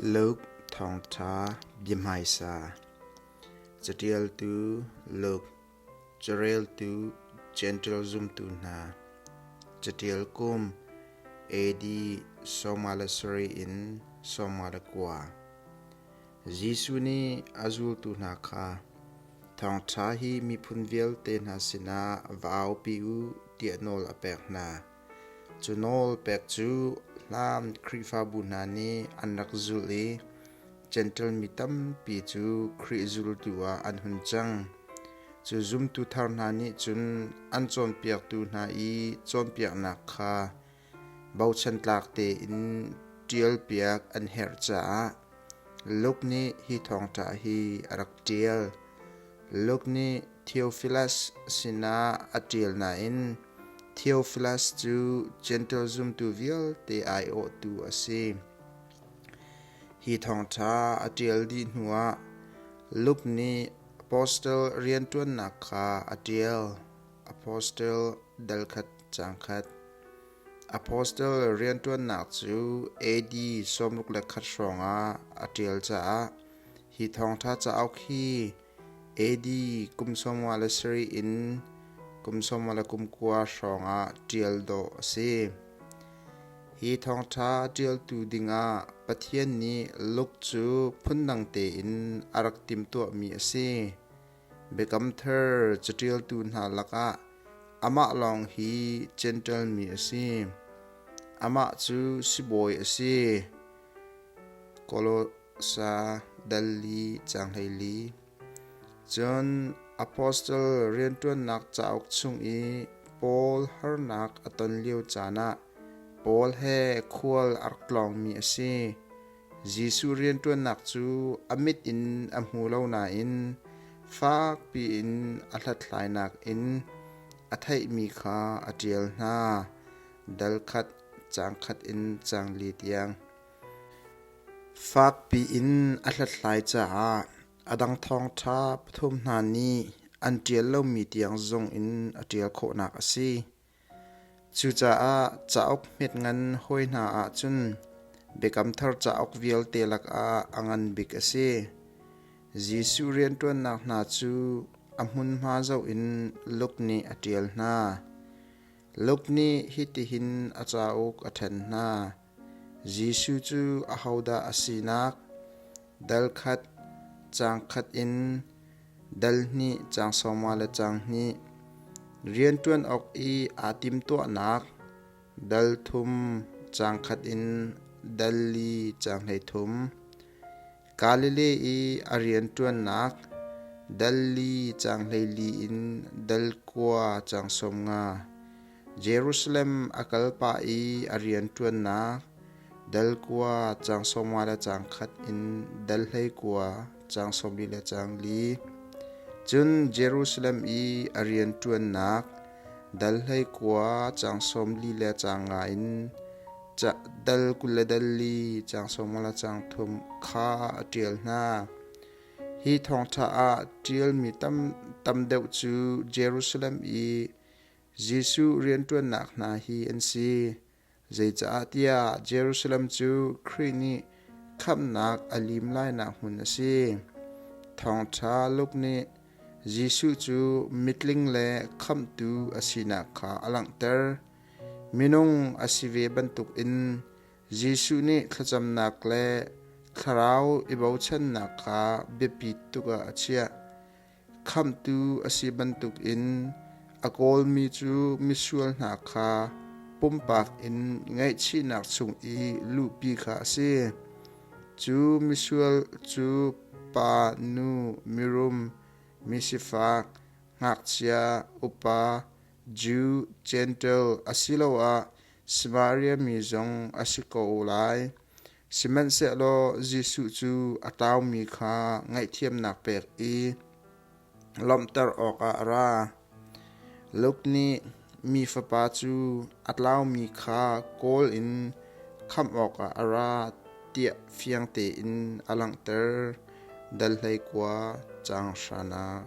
Luke Thawngṭha biahmaisa Caṭialtu Luke Careltu Jentail zumtu hna Caṭial kum AD sawmnga le sarih in sawmnga le kua Jesuh nih a zultu hna kha Thawngṭha hi miphun vialte hna sinah va aupi u tiah nawl a pek hna. Cu nawl pek cu Hlam Khrihfabu hna nih an rak zulh i Jentail mi tampi cu Khrih zultu ah an hun cang. Cu zumtu thar hna nih cun an cawnpiaktu hna i cawnpiaknak kha bochan tlak tein ṭialpiak an herh caah Luke nih hi thawngṭha hi a rak ṭial. Luke nih Theophilus sinah a ṭial nain Theophilus cu Gentel zumtu vialte aiawhtu a si. Hi thawngṭha a ṭial dih hnuah Luke nih apostle rianṭuannak kha a ṭial. Apostle dal khat caang khat Apostle rianṭuannak cu AD sawmruk le khat hrawngah a ṭial caah hi thawngṭha cauk hi AD kum sawmnga le sarih in kum sawmnga le kum kua hrawngah ṭial dawh a si. Hi thawngṭha ṭialtu dingah Pathian nih Luke cu phundang tein a rak timtuahmi a si. Biakam thar caṭialtu hna lakah amah lawng hi Gentle mi a si. Amah cu sibawi a si. Kolosa dal li caanghlei li. Cun apostle rianṭuannak cauk chung i Paul harnak a ton lio caan ah Paul he khual a rak tlawngmi a si. Jesuh rianṭuannak cu a mit in a hmu lo nain fakpi in a hlathlainak in a theihmi kha a ṭial hna. Dal khat, caang khat in caang li tiang. Fakpi in a hlathlai caah a dang thawngṭha pathum hna nih an ṭial lomi tiang zung in a ṭial khawhnak a si. Cucaah cauk hmet ngan hawi hna ahcun Biakam Thar cauk vialte lakah a ngan bik a si. Jesuh rianṭuannak hna cu a hmunhma zoh in Luke nih a ṭial hna. Luke nih hitihin a cauk a ṭhen hna: Jesuh cu ahodah a sinak? Dal khat, caang khat in dal hnih, caang sawma le caang hnih. Rianṭuan awk i aa timtuahnak dal thum, caang khat in dal li, caang hleithum. Galilee i a rianṭuannak Delhi caang hleili in Del kua caang sawm nga, Jerusalem a kal pah i a rianṭuannak Del kua caang sawmnga le caang khat in Del hleikua caang sawmli le caang li, cun Jerusalem i a rianṭuannak Del hleikua caang sawmli le caang nga in dal kul le dal li cang sawm le cang thum kha a ṭial hna. Hi thawngṭha ah ṭialmi tam, tam deuh cu Jerusalem i Jesuh rianṭuannak hna hi an si. Zeicah tiah Jerusalem cu Khrih nih khamhnak a lim lainak hmun a si. Thawngṭha Luke nih Jesuh cu mitling le khamhtu a sinak kha a langhter. Minung a si ve bantukin Jesuh nih thlacamnak le thlarau i bochannak kha biapit tuk ah a chiah. Khamhtu a si bantukin a kawlmi cu misual hna kha pumpak in ngaihchihnak chung i luhpi kha a si. Cu misual cu pa, nu, mirum, misifak, ngakchia, upa, Jew, Jentail asiloah Samaria mi zong a si ko lai. Sihmanhsehlaw Jesuh cu a taumi kha ngaihthiamnak pek i lawmhter awkah a ra. Luke nih mi fapa cu a tlaumi kha kawl in khamh awkah a ra tiah fiang tein a langhter. Dal hlei kua, caang hranak.